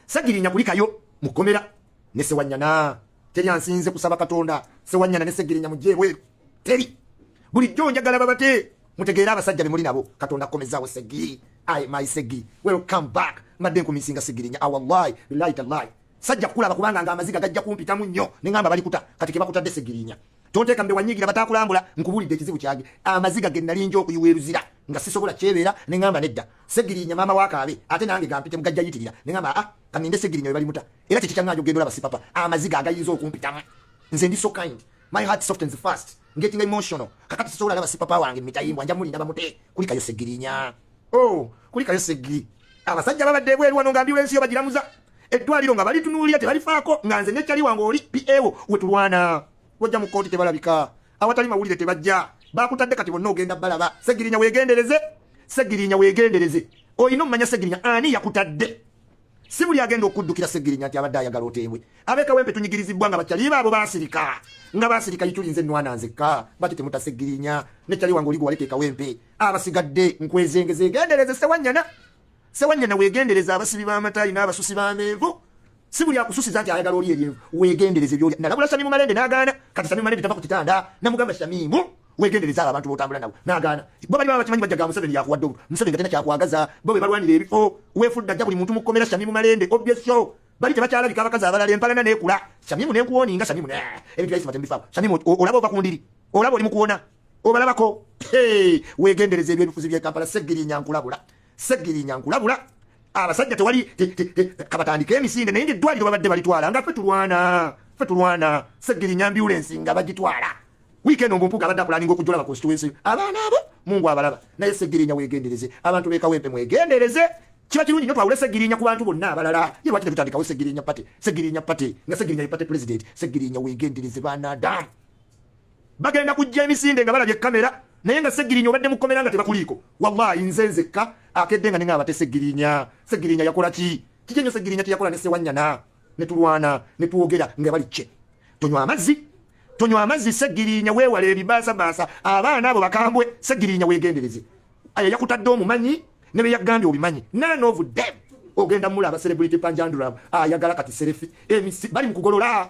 Segirinya kulikayo mu komera ne sewanyana. Teri ansinze kusaba Katonda sewanyana ne Segirinya mujje bwe. Teri. Buli jjo njagala babate mutegeera abasajja be muli nabo Katonda komezaawo Segiri. I my Segiri. Welcome back. Mbadde nkumisinga Segirinya. Awallahi ah, billahi tallahi. Sajja kulaba kubanga nga amaziga gajja kumpitamu nnyo ne ngamba bali kuta kati ke bakutadde Segirinya. Tonteeka mbe wanyigira batakulambula nkubulidde ekizibu kyange amaziga ge nali nja okuyiwa eruzira nga sisobola kyebeera ne ngamba nedda. Segirinya mama wa kaabe ate nange gampite mugajja yitirira ne ngamba ah kaninde segirinya bali muta era kiki kyanga njogendo laba sipapa amaziga agayinza okumpitamu nze ndi so kind my heart softens fast getting emotional kakati sosobola laba sipapa wange mitayimbwa nja muli nabamute kulikayo segirinya oh kulikayo segiri abasajja babadde ebweru wano nga ambulensi yo bagiramuza eddwaliro nga balitunuulira tebalifaako nga nze nekyali wange oli pawo wetulwana wajja mu kkooti tebalabika awatali mawulire tebajja bakutadde kati bonna ogenda balaba segirinya wegendereze segirinya wegendereze olina omumanya segirinya ani yakutadde si buli agenda okuddukira segirinya nti abadde ayagala oteebwe abekawempe tunyigirizibwa nga bakyaliba abo basirika nga basirika yitulinze enwana nzekka bati temuta segirinya nekyali wange oligo waleta ekawempe abasigadde nkwezenge zegendereze sewanyana sewanyana wegendereze abasibi b'amatayi n'abasusi b'amenvu si buli akususiza nti ayagala oli ebyenvu wegendereze byolya nalabula shamimu malende nagaana kati shamimu malende tava ku kitanda namugamba shamimu wegendereze abo abantu botambula nabo nagaana bo bali baba bakimanyi bajja ga museveni yakuwadde obulu museveni nga tena kyakwagaza bo be balwanira ebifo wefudda jja buli muntu mukomera shamimu malende obyesho bali tebakyalabika abakazi abalala empalana nekula shamimu nenkuwoninga shamimu ne ebintu byaisima tembifaako shamimu olaba ova ku ndiri olaba oli mukuwona obalabako wegendereze ebyebifuzi byekampala segirinya nkulabula Segirinya nkulabula abasajja tewali kabatandika emisinde naye ngaeddwaliro babadde balitwala nga fe tulwana fe tulwana segirinya ambulensi nga bagitwala wiikendi omumpuga abadde akulaninga okujolaba constituency abaana abo mungu abalaba naye segirinya wegendereze abantu bekawempe mwegendereze kiba kirungi nyo twawule segirinya ku bantu bonna abalala ye lwaki tetutandikawo segirinya pate segirinya pate nga segirinya ye pate president segirinya wegendereze baana adamu bagenda kujja emisinde nga balabye kamera naye nga segirinya obadde mukomera nga tebakuliiko wallahi nze nzekka akedde nga ninga abate segirinya segirinya yakola ki kiki nyo segirinya kyeyakola ne sewanyana ne tulwana ne twogera nga bali kye tonywa amazzi tonywa amazzi segirinya weewala ebibaasabaasa abaana abo bakambwe segirinya weegendereze ayo yakutadde omumanyi ne beyagambye obimanyi none of them ogenda mula abaserebrity panjanduramu ayagala kati serefi bali mukugolola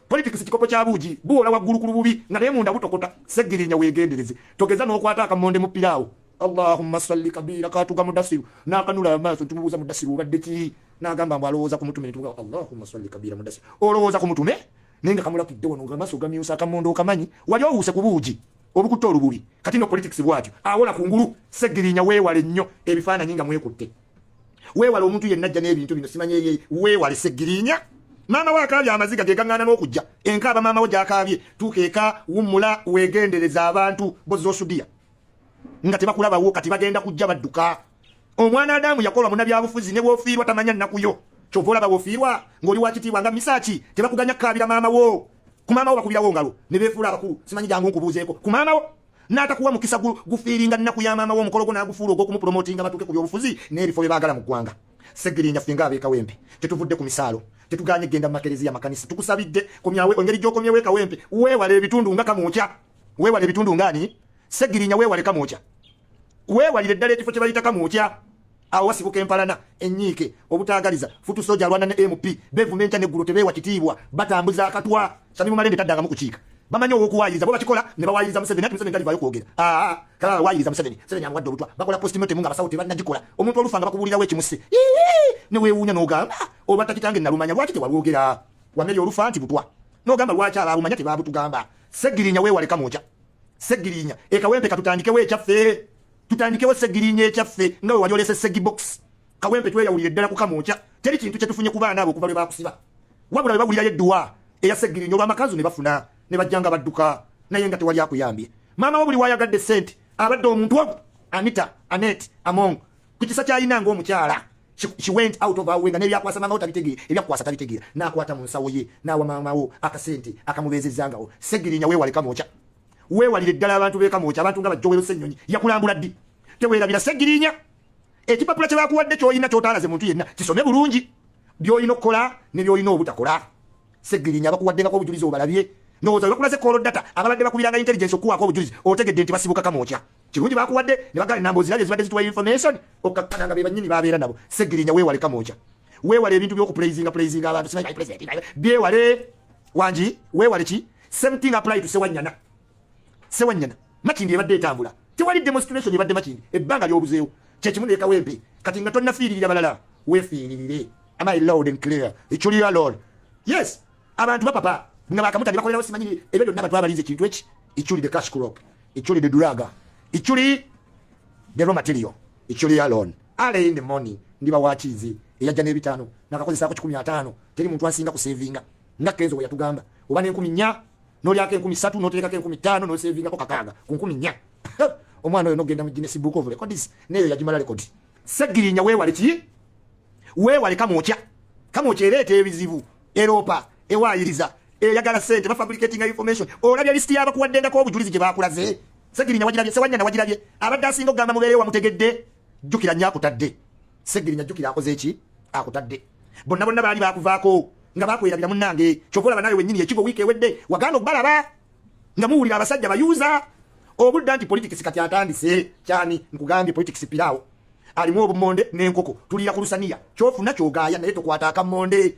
Politics kikopo kya buugi buwola waggulu ku lububi nga naye munda butokota. Ssegirinya weegendereze togeza n'okwata akamonde mu piraawo. Allahumma salli kabiira kaatuga Mudasiru n'akanula amaaso nti mubuuza Mudasiru obadde ki n'agamba mbu alowooza ku mutume ne tuga Allahumma salli kabiira Mudasiru olowooza ku mutume naye nga kamulakidde wano nga amaaso gamyusa akamonde okamanyi wali owuuse ku buugi obukutte olububi kati no politics bwatyo awola ku ngulu Ssegirinya weewale nnyo ebifaananyi nga mwekutte. weewale omuntu yenna ajja n'ebintu bino simanya eye weewale segirinya maama we akaabye amaziga ge gaŋŋaana n'okujja enkaaba maama we gy'akaabye tuuka eka wummula weegendereza abantu bozosudiya nga tebakulabawo kati bagenda kujja badduka omwana adamu yakola munabyabufuzi ne bwofiirwa tamanya nnaku yo kyova olaba wofiirwa ng'oli wakitiibwa nga misaaki tebakuganya kukaabira maama wo ku maama wo bakubirawo ngalo ne beefuula abakulu simanyi jangu nkubuuzeeko ku maama wo n'atakuwa mukisa gufiiringa nnaku ya maama w'omukolo gwo n'agufuula ogw'okumupromotinga batuuke ku byobufuzi n'ebifo bye baagala mu ggwanga segirinya ffe nga ab'ekawempe tetuvudde ku misaalo tetuganye kugenda mu makereziya makanisa tukusabidde kumyawe engeri gy'okomyewo ekawempe weewale ebitundu nga kamuukya weewale ebitundu ngaani segirinya weewale kamuukya weewalire ddala ekifo kye bayita kamuukya awo wasibuka empalana enyiike obutaagaliza futu soja alwana ne mp bevuma enkya neggulo tebeewa kitiibwa batambuza akatwa samimu malende taddangamu kukiika bamanyi owokuwayiriza bo bakikola ne bawayiriza museveni ati museveni talivayo kwogera aa kala wayiriza museveni museveni amuwadde obutwa bakola postmortem nga abasawo tebannagikola omuntu olufa nga bakubuulirawo ekimusse ne weewuunya n'ogamba oba takitange nalumanya lwaki tewalwogera wameri olufa nti butwa n'ogamba lwaki abaabumanya tebaabutugamba segirinya weewaleka mwoja segirinya ekawempe katutandikewo ekyaffe tutandikewo segirinya ekyaffe nga wewali olese segibox kawempe tweyawulira eddala kukamwokya teri kintu kyetufunye ku baana abo okuva lwe bakusiba wabula webawulirayo edduwa eya segirinya olwamakanzu ne bafuna ne bajjanga badduka naye nga tewali akuyambye maama wo buli wayagadde sente abadde omuntu omu anita anet among ku kisa kyayina ngaomukyala she went out of awe nga nebyakwasa maama wo tabitegeera ebyakukwasa tabitegeera nakwata mu nsawo ye nawa maama wo akasente akamubeezezangawo segirinya wewale kamwokya Weewalire ddala abantu b'e Kamwokya, abantu nga Bajjowero Ssennyonyi yakulambula ddi? Teweerabira Ssegiriinya. Ekipapula kye bakuwadde ky'olina ky'otaalaze muntu yenna kisome bulungi by'olina okukola ne by'olina obutakola. Ssegiriinya abakuwaddengako obujulizi obalabye ndowooza webakulaze call data ababadde bakubiranga intelligence okuwaako obujulizi otegedde nti basibuka kamwokya kirungi bakuwadde ne bagala enamba ozirabye zibadde zituwa information okkakkana nga bebanyini babeera nabo segirinya weewale kamwokya weewale ebintu byokupulaizinga pulaizinga abantu simanyi president byewale wangi weewale ki same thing apply to sewanyana sewanyana makindi ebadde etambula tewali demonstration ebadde makindi ebbanga lyobuzeewo kyekimu nekawempe kati nga tonafiiririra balala wefiiririre am i loud and clear eculiyo alone yes abantu bapapa nga bakamuta nebakolerawo simanyi ebyo byonna abantu abalinza ekintu eki eculi the cash crop eculi the duraga eculi the raw material eculi alone ale in the morning ndiba wakiizi eyajja n'ebitaano nakakozesaako kikumi ataano teri muntu ansinga kusevinga nga kenzo we yatugamba oba n'enkumi nnya n'olyako enkumi ssatu n'oteekako enkumi ttaano n'oseevingako kakaaga ku nkumi nnya omwana oyo n'ogenda mu ginesi book of records neeyo yagimala rekodi segirinya weewale ki weewale kamwokya kamwokya ereeta ebizibu eroopa ewaayiriza eyagala sente bafabricatinga information olabya lisiti yabakuwaddengako obujulizi gye baakulaze segirinya wagirabye sewanyana wagirabye abadde asinga okugamba mubeereyo wamutegedde jjukira nyo akutadde Segirinya jukira akoze eki akutadde bonna bonna baali bakuvaako nga bakwerabira munnange kyova olaba nawe wenyini ekigo wiiki ewedde wagaana okubalaba nga muwulira abasajja bayuuza obudda nti politics kati atandise kyani nkugambye politics piraawo alimu obumonde n'enkoko tuliira ku lusaniya kyofuna kyogaaya naye tokwata akamonde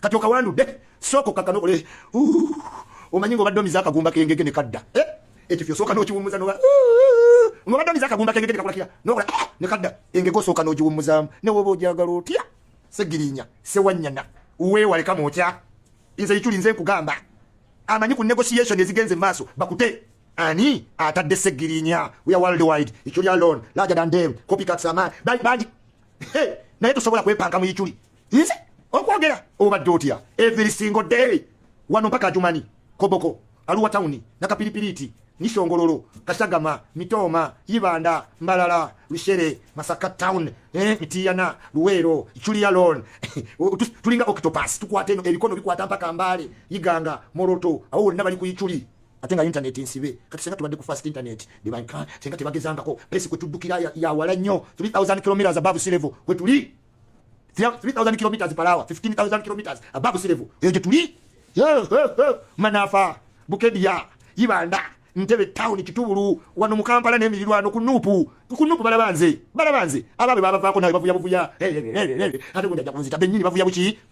kati okawandudde sooka okkakkana okole omanyi ng'obadde omiza akagumba kengege ne kadda eh? ekyo fyosooka n'okiwummuza noba ng'obadde omiza akagumba kengege ne kakola kira nokola ah! ne kadda engege osooka n'ogiwummuzaamu ne woba ogyagala otya segirinya sewanyana weewale kama otya nze ikyuli nze nkugamba amanyi ku negotiation ezigenze maaso bakute ani atadde segirinya we are worldwide ikyuli alone larger than them copycats ama bangi naye tosobola kwepanka mu ikyuli nze okwogera obadde otya every single day wano mpaka ajumanyi koboko aluwa tawuni nakapiripiriiti nisongololo kasagama mitooma yibanda mbalala lushere masaka town eh, mitiyana luweero iculia lon tulinga octopus tukwata eno ebikono bikwata mpaka mbaale yiganga moroto awo wonna bali ku iculi ate nga intaneti nsibe kati senga tubadde ku fast internet senga tebagezangako pesi kwetuddukira yawala nnyo 3000 kilometers above sea level kwetuli 3000 kilometers per hour 15000 kilometers above sea level eyo gyetuli manafa bukedya ibanda ntebe town kitubulu wano mu kampala n'emirirwano ku nuupu ku nuupu balabanze balabanze abaabwe babavaako nawe bavuya buvuya ate gundi ajja kunzita bennyini bavuya buki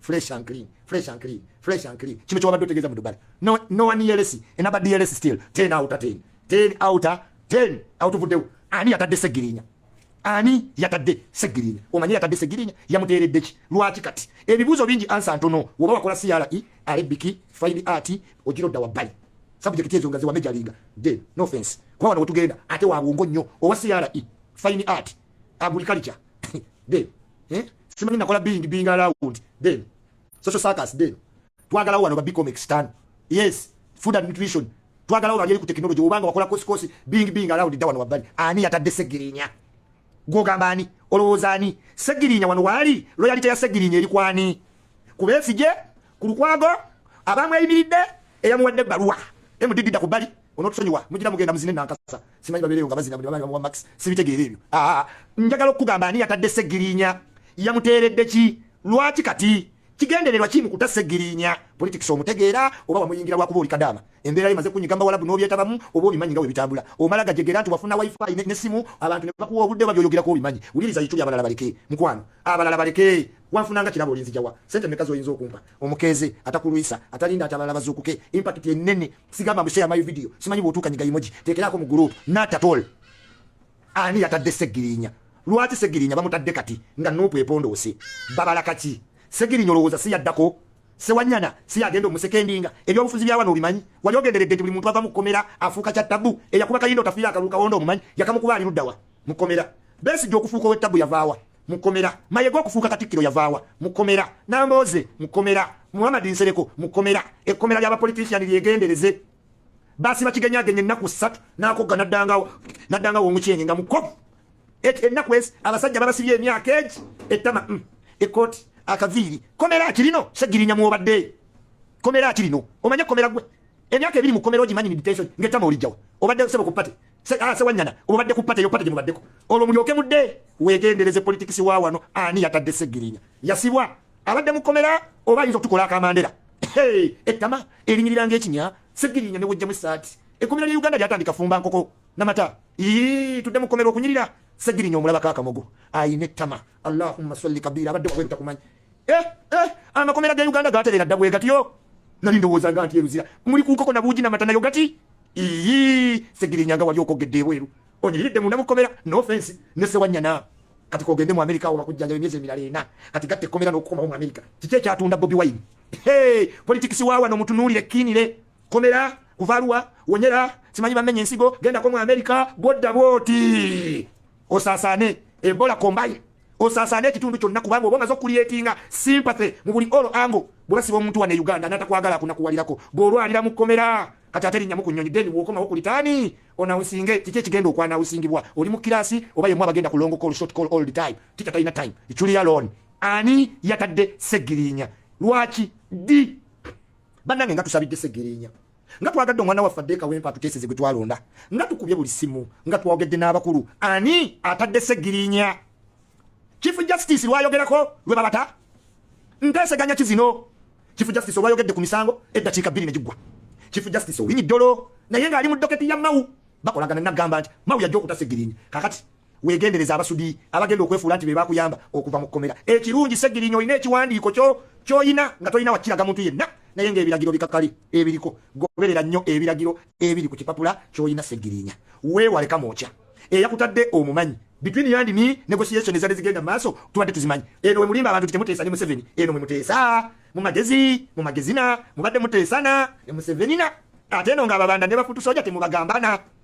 fresh and clean fresh and clean fresh and clean kino kyobadde otegeeza mu dubali no, no one dlc enaba dlc still ten outa ten ten outa ten autuvuddewo ani yatadde segirinya ani yatadde segirinya omanyi yatadde segirinya yamuteeredde ki lwaki kati ebibuuzo bingi ansa ntono woba wakola cra e, arabiki fine art ogira odda wabbali sabujekiti ezo nga zewamejalinga de no offense kuba wano wetugenda ate wabwongo nnyo owa cra e, fine art agriculture then eh simanyi nakola being being around then social circus then twagalawo wano ba bicomex tano yes food and nutrition twagalawo bali ku technology obanga wakola kosi kosi being being around da wano wabali ani yatadde segirinya gwogamba ani olowooza ani segirinya wano waali loyalite ya segirinya eri kwani kubesigye ku lukwago abamweyimiridde eyamuwadde ebbaluwa emudigidda ku bbali onotusonyiwa mugira mugenda muzine nankasa simanyi babeereyo nga bazina buli bamanyi bamuwa max sibitegeera ebyo ah, ah, ah. njagala okukugamba ani yatadde segirinya yamuteeredde ki lwaki kati kigendererwa kimu kuta segirinya politics omutegeera oba wamuyingira lwakuba oli kadaama embeera ye maze kunyiga mbawalabu n'obyetabamu oba obimanyi nga webitambula omala gajegera nti wafuna wifi nesimu abantu nebakuwa obudde oba byoyogerako obimanyi wuliriza yituli abalala baleke mukwano abalala baleke wanfunanga kirabo olinzijawa sente meka zoyinza okumpa omukeeze atakulwisa atalinda atabala bazuukuke impact enene sigamba mbusheya my video simanyi bwotuuka nyiga imoji tekerako mu group not at all ani yatadde segirinya lwaki segirinya bamutadde kati nga nupu epondoose babala kaki segirinya olowooza siyaddako sewanyana siyagenda omusekendinga ebyobufuzi byawano obimanyi wali ogenderedde nti buli muntu ava mukukomera afuuka kya tabu eyakuba kayinda otafiira akalulu kawonda omumanyi yakamukuba ali luddawa mukomera besi gyokufuuka owetabu yavaawa mukomera mayega okufuuka katikkiro yavaawa mukomera nambooze mukomera muhammad nsereko mukomera ekkomera ly'abapolitisiani lyegendereze basiba kigenyagenye ennaku ssatu nakogga naddangawo naddangawo omukyenge nga mukovu ennaku ezi abasajja babasibye emyaka egi ettama mm, ekkooti akaviiri komera akirino segirinya mwobadde komera akirino omanye komera gwe emyaka ebiri mukomera ogimanyi meditation ngetama olijjawo obadde sebo ku pate sewanyana ah, obadde ku pate yopate gyemubaddeko olwo mulyoke mudde wegendereze politikisi wa wano ani yatadde segirinya yasibwa abadde mukomera oba ayinza okutukola akamandera ettama erinyirira ngaekinya segirinya newejjamu esaati ekomera lya uganda lyatandika fumba nkoko namata tudde mukomera okunyirira segirinya omulabako akamogo ayina ettama allahumma salli kabiira abadde wakwebitakumanyi eh, eh, amakomera ga uganda gaterera dda bwegatyo nali ndowoozanga nti eruzira muli kunkoko nabuugi namata nayo gati iyi segirinyanga wali okogedde ebweru onyiridde munda mukomera nofensi nesewanyana kati kogende mu amerika awo bakujjanjaba emyezi emirala ena kati gatta ekkomera n'okukomawo mu amerika kiki ekyatunda bobi wine hey, politics wawa no mutunulire kinire komera kuvalwa wonyera simanyi bamenye ensigo genda ko mu america godda boti osaasaane ebola kombayi osaasaane ekitundu kyonna kubanga oba omaze okuliyetinga sympathy mu buli olo ango bwebasiba omuntu wane uganda natakwagala akunakuwalirako bwolwalira mu kkomera kati ate linnya muku nyonyi deni wokomawo ku litaani onawusinge kiki ekigenda okwanawusingibwa oli mu kiraasi oba yemu abagenda kulongo call short call all the time tita talina time iculia loan ani yatadde segirinya lwaki di bannange nga tusabidde segereenya nga twagadde omwana waffe adde kawempa atuteeseze gwe twalonda nga tukubye buli simu nga twogedde n'abakulu ani atadde segirinya chief justice lwayogerako lwe babata nteeseganya kizino chief justice olwayogedde ku misango eddakiika bbiri ne giggwa chief justice owinyi ddolo naye ng'ali mu doketi ya mawu bakolagana nagamba nti mawu yajja okuta segirinya kakati Wegendereza abasudi abagenda okwefuula nti bebakuyamba okuva mu kkomera. Ekirungi Ssegirinya olina ekiwandiiko kyo kyolina nga tolina wakiraga muntu yenna naye ng'ebiragiro bikakali ebiriko goberera nnyo ebiragiro ebiri ku kipapula kyolina Ssegirinya. Weewale Kamwokya eyakutadde omumanyi between you and me negotiation ezadde zigenda maaso tubadde tuzimanyi eno wemulimba abantu titemuteesa ne museveni eno mwemuteesa mu magezi mu magezina mubadde muteesana ne musevenina ate eno nga ababanda ne bafutusoja temubagambana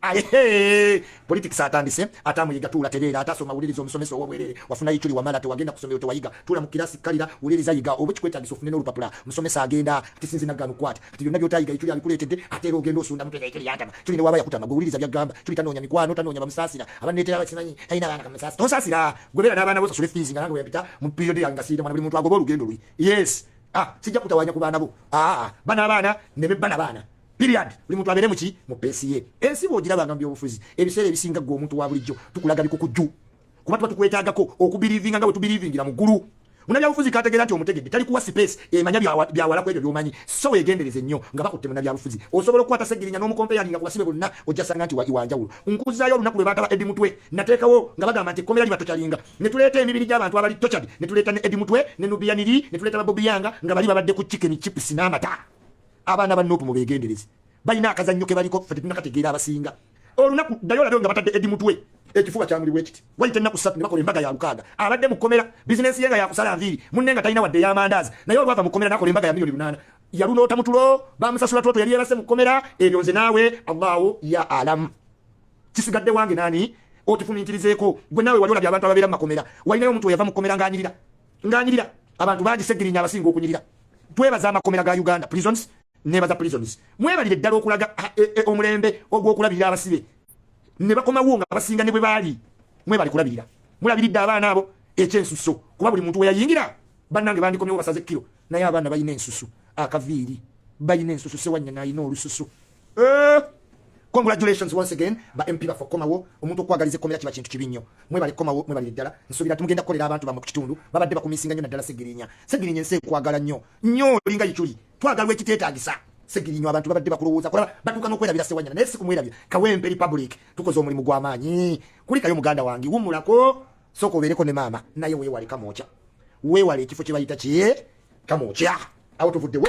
Aye politics atandise atamuyiga tuula tereera atasoma wuliriza omusomesa ow'obwerere wafunayo ekiri wamala tewagenda kusomero tewayiga tuula mu kirasi kalira wuliriza yiga oba ekikwetagisa ofune n'olupapula musomesa agenda ati sinzi naggano kwata kati byonna by'otayiga ekiri abikuleetedde ate era ogenda osunda mutega ekiri yantama kiri ne waaba yakutama gwe wuliriza by'agamba kiri tanoonya mikwano tanoonya bamusaasira abanneetera bakimanyi talina abaana kamusaasi tonsaasira gwe beera n'abaana bo osasule fiizi nga nange weyapita mu period yange nga siyita mwana buli muntu agoba olugendo lwe yes ah sijja kutawanya ku baana bo aa ah, ah, ah. bana abaana ne be bana baana Period. Buli muntu abeere muki mu pesi ye. Ensi bw'ogiraba nga mu byobufuzi ebiseera ebisinga ggwe omuntu wa bulijjo tukulaga bikukujju kuba tuba tukwetaagako okubiriivinga nga bwe tubiriivingira mu ggulu. Munabyabufuzi k'ategeera nti omutegedde tali kuwa sipeesi emanya byawala ku ebyo by'omanyi so weegendereze nnyo nga bakutte munabyabufuzi. Osobola okukwata Ssegirinya n'omukompeyaninga ku basibe bonna ojja sanga nti wa njawulo. Nkuzaayo olunaku lwe baagala Eddie Mutwe nateekawo nga bagamba nti ekkomera liba tocalinga ne tuleeta emibiri gy'abantu abali tocadi ne tuleeta ne Eddie Mutwe ne Nubian Li ne tuleeta ba Bobi Yanga nga bali babadde ku chicken chips n'amata. abaana ba nup mubegendereze balina akazannyo kebaliko fe tetunakategeera abasinga olunaku ddayo olabe nga batadde edi mutwe ekifuba kyamuli bwekiti wayita ennaku ssatu ne bakola embaga ya lukaaga abadde mu kkomera bizinensi ye nga yakusala nviiri munne nga talina wadde ey'amandaazi naye olwava mu kkomera nakola embaga ya miliyoni lunaana yalunoota mutulo bamusasula twoto yali yebase mu kkomera ebyo nze naawe allahu ya alamu kisigadde wange nani okifuminkirizeeko gwe naawe wali olabye abantu ababeera mu makomera walinayo omuntu weyava mu kkomera ng'anyirira nganyirira abantu bangi segirinya abasinga okunyirira twebaza amakomera ga uganda prisons nebaza prisons mwebalire ddala okulaga e, e, omulembe ogw'okulabirira abasibe ne bakomawo nga abasinga ne bwe baali mwebali kulabirira mulabiridde abaana abo ekyensuso kuba buli muntu weyayingira bannange bandikomyewo basaze kiro naye abaana balina ensusu akaviiri balina ensusu sewanyana alina olususu Eh, congratulations once again ba MP bafo komawo omuntu okwagaliza ekomera kiba kintu kibi nnyo mwebale komawo mwebale ddala nsuubira tumugenda kukolera abantu bamwe ku kitundu babadde bakumisinga nnyo naddala segirinya segirinya ensi ekwagala nnyo nnyo olinga yiculi twagalwa ekiteetaagisa segirinya abantu babadde bakulowooza kulaba batuuka n'okwerabira sewanyana naye si kumwerabira kawempe republic tukoze omulimu gw'amaanyi kulikayo muganda wange wumulako sooka obeereko ne maama naye weewale kamwokya weewale ekifo kye bayita kye kamwokya awo tuvuddewo